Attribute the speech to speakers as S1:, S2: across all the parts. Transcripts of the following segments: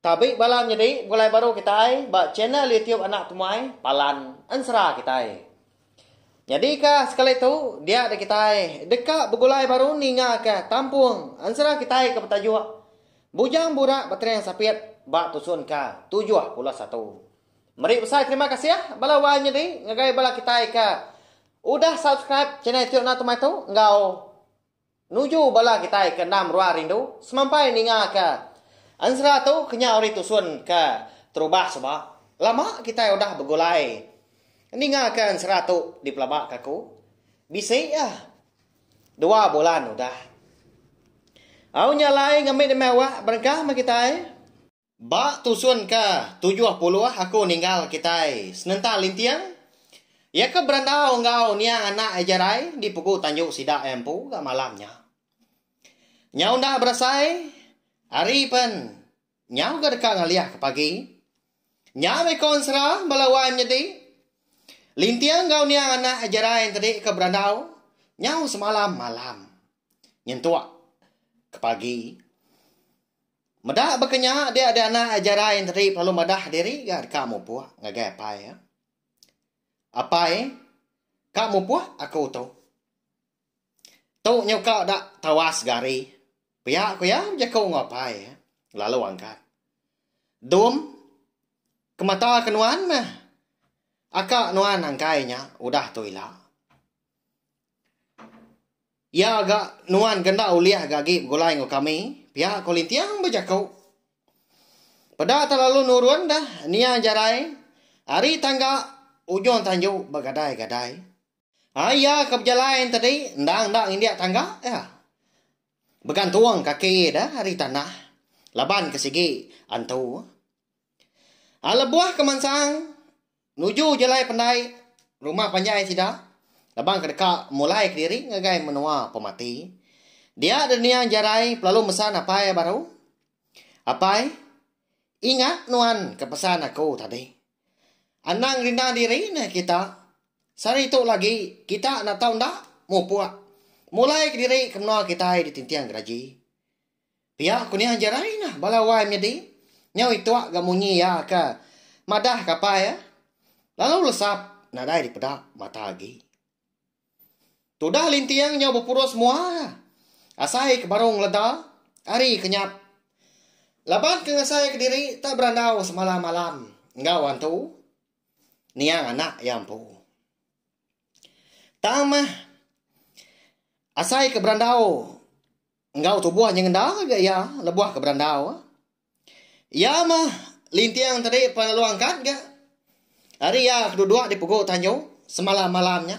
S1: Tabi bala nyedi begulai baru kitai ba channel YouTube Anak Temuai Palan Ensera kitai. Nyadika sekali tu dia da kitai deka begulai baru ningaka tampung ensera kitai ke betajuk Bujang Burak Betering Sapit ba tusun ka tujuh puluh satu. Meri besai terima kasih bala wai nyedi ngagai bala kitai ke udah subscribe channel YouTube Anak Temuai tu enggau Nuju bala kitai ke endam ruang rindu semampai ninga ke ensera tu kenyau ari tusun ke terubah suba lama kitai udah begulai ninga ke ensera tu dipelaba ke aku bisi ah dua bulan udah au nya alai ngambi demi awak berengkah meh kitai. Ba tusun ke tujuh puluh aku ninggal kitai senentang linting, iya ke berandau enggau niang anak Ejarai di pegu tanjung sida iya empu ga malam nya. Nyau enda berasai, ari pen nyau ga deka ngalih ke pagi. Nya meh ko ensera bala wai menyedi. Linting enggau niang anak Ejarai entedi ke berandau nyau semalam malam nyentuk ke pagi. Meda baka nya dia di anak Jarai Enteri pelalu madah diri ga deka mupuk ngagai apai iya. Apai ka mupuk aku tu. Tu nyuka da tawas gari pia ku iya bejaku enggau apai iya lalu angkat dum ke mata ke nuan meh aka nuan angkai nya udah tu ila. Iya ga nuan ke enda ulih ga agi begulai enggau kami, pia ko Linting bejako. Peda telalu nurun dah niang jarai ari tangga ujung tanju begadai-gadai. Ai iya ke bejalai tadi endang enda ngindik tangga iya. Begantung kaki iya ari tanah laban ke sigi antu. Ai lebuh ke mansang. Nuju jalai pendai rumah panjai sida laban ke deka mulai kediri ngagai menua pemati. Dia deh niang Jarai pelalu mesan apai iya baru, Apai, ingat nuan ke pesan aku tadi. Anang rindang diri neh kita. Sehari tu lagi kita enda tau enda mupuk. Mulai kediri ke menua kitai di Tinting Geraji. Pia ku nia Jerai nah bala wai menyedi nyau ituk ga munyi iya ka madah kapai iya lalu lesap nadai dipeda mata agi. Tudah linting nyau bepurus mua ka asai ke baru ngeleda ari ke nyap laban ke ngasai ke diri tak berandau semalam malam enggau antu niang anak iya empu. Tang meh asai ke berandau. Enggau tubuh nyengenda ga iya lebuh ke berandau. Iya meh linting tadi pan lalu angkat ga. Ari iya keduduk di pegu tanju semalam malam nya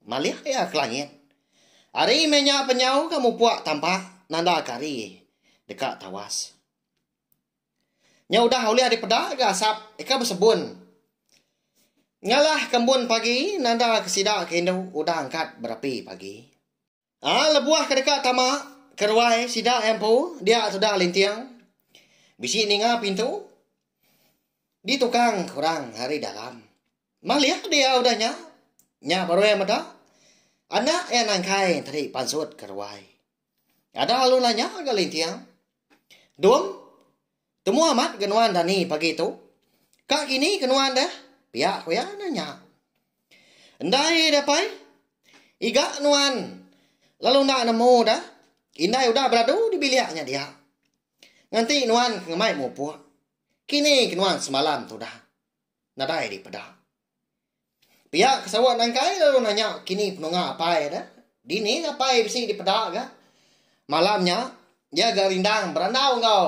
S1: malih iya ke langit. Ari meh nya penyau ga mupuk tampak nanda ke hari deka tawas. Nya udah ulih dipeda ga asap deka besebun. Ngalah ke embun pagi nanda ke sida ke indu udah angkat berapi pagi. Ai lebuh ke deka tama ke ruai sida empu dia tuda linting bisi ninga pintu ditukang orang ari dalam. Malih dia udah nya, nya baru iya meda anak iya nangkai tadi pansut ke ruai. Ada lalu nanya ga linting, Dum. Temu amat ga nuan dani pagi tu. Ka kini ke nuan deh, pia ku iya enda nya. Ndai deh pai. Iga nuan lalu enda nemu deh, indai udah beradu di bilik nya dia. Nganti nuan ke ngemai mupuk. Kini ke nuan semalam tudah. nadai dipeda. Pia ke sawa nangkai lalu nanya kini penunga apai ne, dini apai bisi dipeda ga. Malam nya iya ga rindang berandau enggau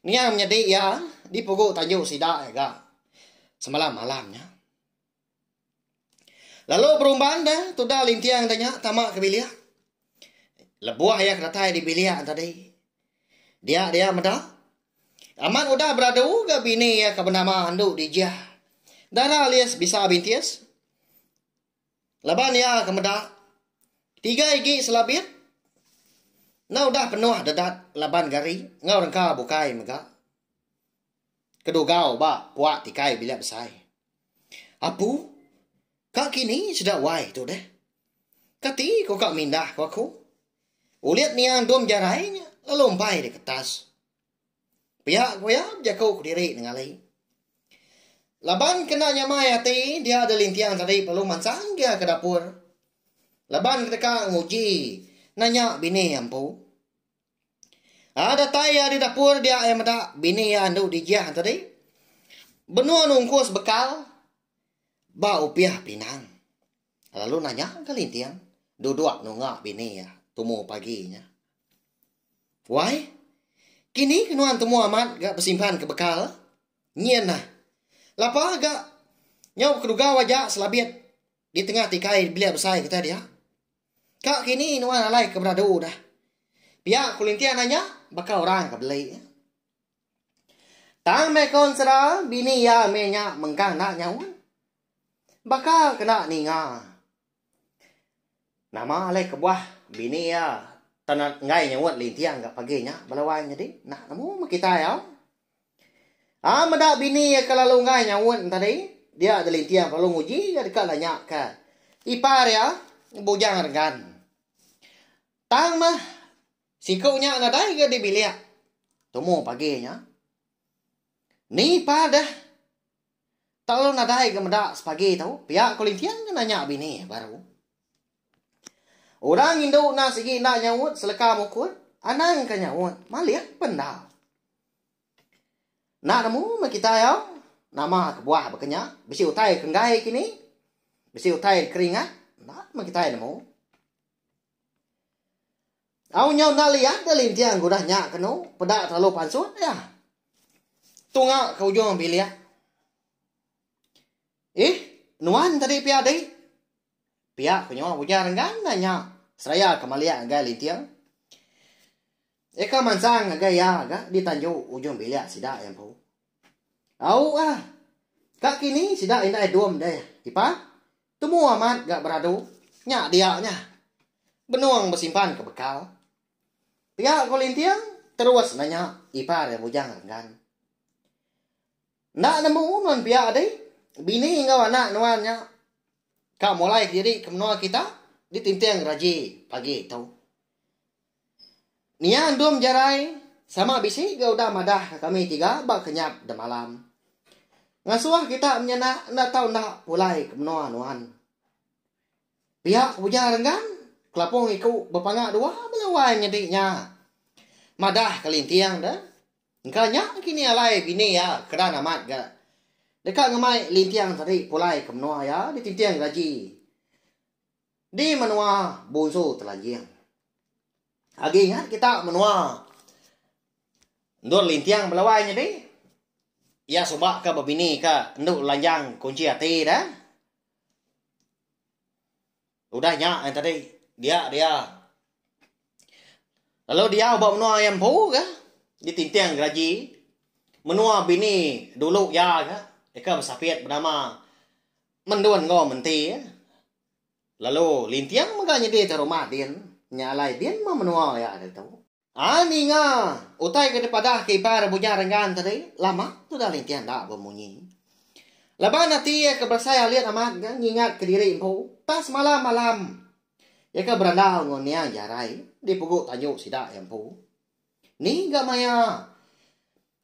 S1: niang menyadi iya di pugu tanju sida iya ga semalam malam nya. Lalu berumban dah tuda linting da nya tama ke bilik. Lebuh iya ke datai di bilik tadi. Dia dia meda. Amat udah beradu ga bini iya ke benama andu Dijah. Dara alis bisa bintis. Laban iya ke meda tiga igi selabit enda udah penuh dedat laban gari enggau rengka bukai mega. kedugau ba puak tikai bilik besai. Apu, ka kini sida wai tu deh. Kati ko ka mindah ko aku. Ulit nia endum jarai nya lalu empai di ketas. Pia ko ya bejaku kediri nengali. Laban kena nyamai ati dia da linting tadi perlu mansang gia ke dapur. Laban kedeka nguji nanya bini ampu. Ai datai iya di dapur dia ai meda bini iya andu dijah tadi. Benung nungkus bekal ba upih pinang. Lalu nanya ke linting duduk nunga bini iya tumu pagi nya. Wai, kini ke nuan tumu amat ga besimpan ke bekal? Nyin nah. Lapa ga nyau ke dugau aja selabit di tengah tikai bilik besai kita dia. Ka kini nuan alai ke beradu dah. Pia ku Linting andai nya baka orang ke beli. Tang meh ko ensera bini iya meh nya mengkang enda nyaut. Baka ke enda ninga. Nama alai kebuah bini iya tan enggai nyaut Linting ga pagi nya bala wai nyadi. Enda nemu meh kitai au. Ah meda bini iya ke lalu enggai nyaut tadi, dia Delinting belalu nguji iya deka nanya ke ipar iya Bujang Renggan. Tang meh siku nya nadai ga di bilik tumu pagi nya. Ni ipar deh tak lalu nadai ga meda sepagi tu pia ko Linting ke nanya bini iya baru. Orang indu enda sigi enda nyaut seleka mukut anang ka nyaut malih pen enda. Enda nemu meh kitai au. Nama kebuah baka nya. Bisi utai ke enggai kini. Bisi utai deka ringat. Enda meh kitai nemu. Au nyau enda liat deh linting ke udah nya ke enu. Peda telalu pansut iya. Tunga ke ujung bilik. Ih, nuan tadi pia dik. Pia ku nyau ujar enggai endang nya seraya ke malik ngagai linting. Eka mansang ngagai iya ga di tanju ujung bilik sida iya empu. Au ah. Ka kini sida indai dom deh Ipa. Tumu amat ga beradu. Nya dia nya. Benung besimpan ke bekal. Pia ku linting terus nanya Ipa ari Bujang Renggan. Enda nemu nuan pia adi bini enggau anak nuan nya ka mulai kediri ke menua kita ditinting ragi pagi tu. Nia Endum Jerai sama bisi ga udah madah ka kami tiga ba kenyat demalam. Ngasuh kita menyanak enda tau enda pulai ke menua nuan. Pia ke ujar renggang kelapung iku bepanga dua bela wai nyadi nya. Madah kelinting deh. Engka nya kini alai bini iya keran amat ga deka ngemai linting tadi pulai ke menua iya ditinting gaji di menua Bunsu Telanjing. Agi ingat kita menua endur linting belawai nyadi iya suba ke bebini ke endu lanjang kunchi ati dah. Udah nya eh tadi dia dia. Lalu dia ba menua iya empu ke ditinting geraji menua bini dulu iya ke ika besapit benama Mendun enggau Menti. Lalu linting mega nyedi te rumah din nya alai din meh menua iya ditu. Ai ninga utai ke dipadah ke iban Rebunya Renggan tadi lama tudah linting enda bemunyi. Laban ati iya ke berasai alit amat ga ngingat ke diri empu tang semalam malam iya ke berandau enggau niang Jarai di pugu tanju sida iya empu. Ni ga maya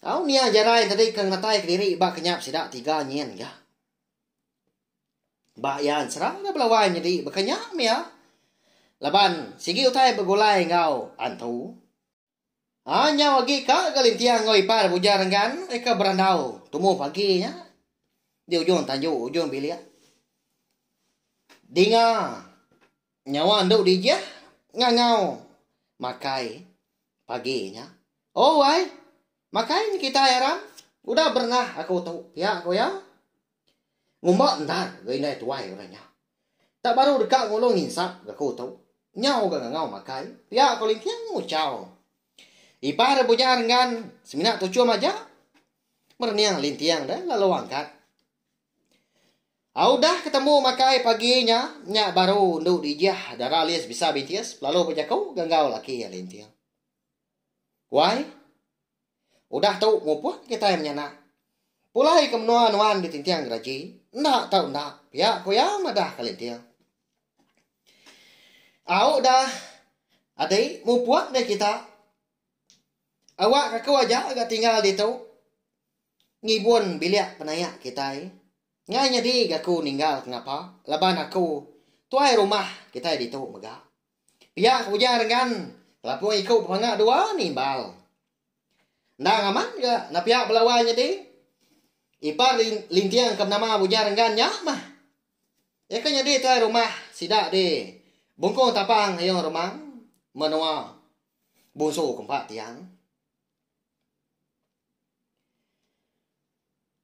S1: au niang Jarai tadi ke ngenatai ke diri ba kenyap sida tiga nyin ga. Ba iya serang deh bala wai nyedi baka nya mia laban sigi utai begulai enggau antu. A nyau agi ka ga linting enggau ipar Bujang Renggan reka berandau tumu pagi nya di ujung tanju ujung bilik. Dinga nyawa endu dijah ngangau makai pagi nya. Oh wai, makai nya kitai aram. Udah berenah aku tu, pia ku iya. Ngumba endar ga indai tuai orang nya. Tak baru deka ngulung nginsap ga ku tu. Nyau ga ngangau makai, pia ko Linting muchau. Ipar ri Bunya Renggan semina tuchum aja. Merening Linting deh lalu angkat. Au dah ketemu makai pagi nya, nya baru endu dijah dara lis bisa bintis lalu bejaku ga enggau laki iya Linting. Wai. Udah tu muput kitai menyanak. Pulai ke menua nuan di Tintiang Geraji, enda tau enda, pia ku iya madah kalinting. Au dah adi muput meh kita. Awak aku aja ga tinggal ditu ngibun bilik penayak kitai. Ngai nyadi ga aku ninggal ke ngapa laban aku tuai rumah kitai ditu mega. Pia ke ujar enggan kelapung iku bepanga dua nimbal. Endang amat ga nepia bala wai nyadi. Ipar Linting ke benama Ujar Enggan nya mah. Iya ke nyadi tuai rumah sida di Bungkung Tapang Ayong Remang, menua bungsu ke empat tiang.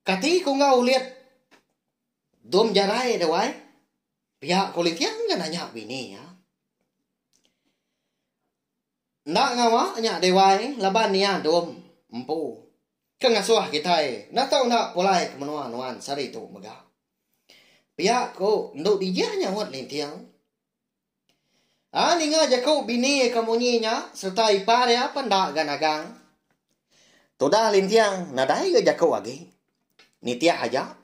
S1: Kati ku enggau ulit dom jarai deh wai. Pia ko Litian ga nanya bini iya. Enda ngawa nya Dewai laban iya dom empu ke ngasuh kitai enda tau enda pulai ke menua nuan sehari tu mega. Pia ko endu Dijah nyaut Litian. A ninga jaku bini iya ke munyi nya sereta ipar iya pen enda ga nagang. Tudah Litian nadai ga jaku agi. Nitih aja.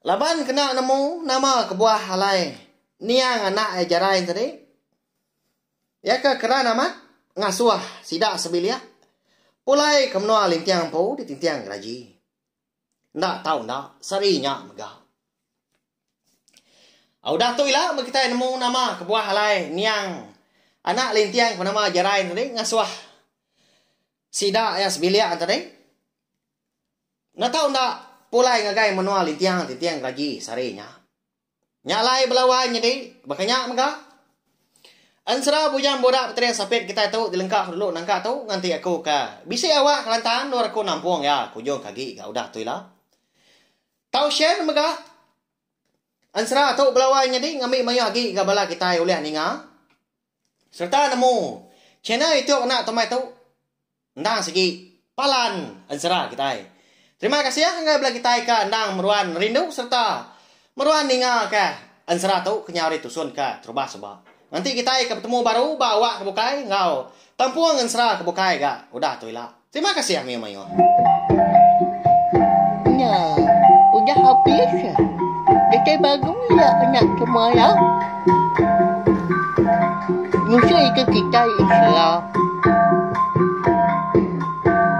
S1: Laban kena nemu nama kebuah alai niang anak iya Jarain tadi. Iya ke keran amat ngasuh sida sebilik pulai ke menua Linting empu di Tinting Geraji. Enda tau enda, sehari nya mega. Au dah tu ila meh kitai nemu nama kebuah alai niang anak Linting ke nama Jarain tadi ngasuh sida iya sebilik tadi. Enda tau enda pulai ngagai menua Lintiang ti tiang geragi sehari nya. Nya alai belawai nyadi baka nya mega. Ensera Bujang Burak Peteris Apit kitai tu dilengka ku dulu nangka tu nganti aku ke bisi awak Kelantan endur aku nampung iya ke ujung ke agi ga udah tu ila. Tau share mega. Ensera tu belawai nyadi ngambi mayuh agi ga bala kitai ulih ninga sereta nemu channel YouTube anak tu mai tu. Endang sigi palan ensera kitai. Terima kasih ngagai bela kitai ke endang meruan nerindu sereta meruan ninga ke ensera tu kenyau ditusun ke terubah suba. Nganti kitai ke betemu baru ba awak ke bukai enggau tempung ensera ke bukai ga udah tu ila. Terima kasih mayuh mayuh.
S2: Nya udah habis. Kitai bangun ya nya semua ya. Musuh iku kitai Israel.